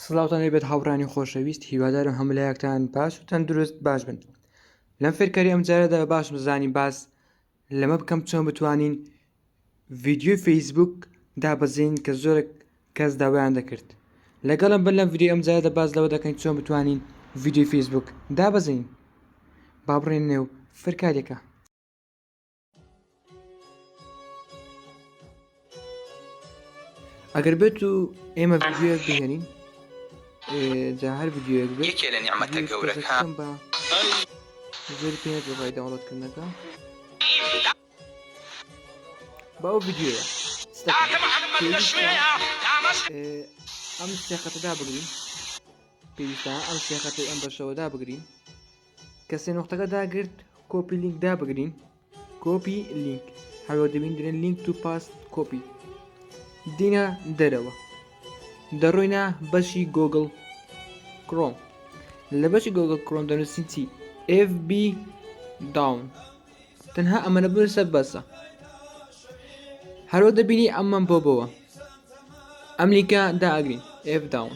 سڵاوتان لێبێت هاوڕانی خۆشەویست هیوادارم هەملایەکتان باش و تەندروست باش بن لەم فێرکاری ئەم جارەدا باش بزانین باس لەمە بکەم چۆن بتوانین ڤیددیوی فەیسبوک دابەزین کە زۆرێک کەس داوایان دەکرد لەگەڵم بن لەم ڤیددیو ئەم جارەدا باز لەوە دەکەین چۆن بتوانین ڤیددیو فەیسبوک دابەزین با بڕێن نێو فەرکارێکە ئەگەر بێت و ئێمە ڤیدیۆیەک بهێنین جا هەر ڤیدیۆیەک بێت یەکێ لە نیعمەتە گەورەکە بە زۆر پێ دەڕای داوڵەتکردنەکە باو ڤیدیۆیە ئەم سێقەتەدا بگرین پێویستە ئەم سێقەتی ئەم بەشەوەدا بگرین کە سێ نقطەکە داگرت کۆپی لینک دابگرین کۆپی لینک هەرۆ دەبیندرێن لینک تو پاست کۆپی دینە دەرەوە دەڕۆینە بەشی گۆگل کرۆم لە بەشی گۆگل کرۆم دەنووسین چی FB داون تەنها ئەمەە بنووسە بەسە هەرۆ دەبینی ئەمەم بۆ بەوە ئەمریکا داگرین F داون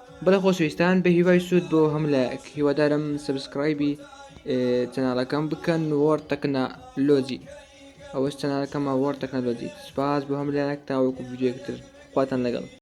بەڵێ خۆشەویستان بە هیوای سوود بۆ هەم لایەک هیوادارم سبسکرایبی چەناڵەکەم بکەن وەر تەکنا لۆجی ئەوەش چەناڵەکەمە وەر تەکنەلۆجی سپاس بۆ هەم لایەک تاوەکو ویددیوەکتر خواتان لەگەڵ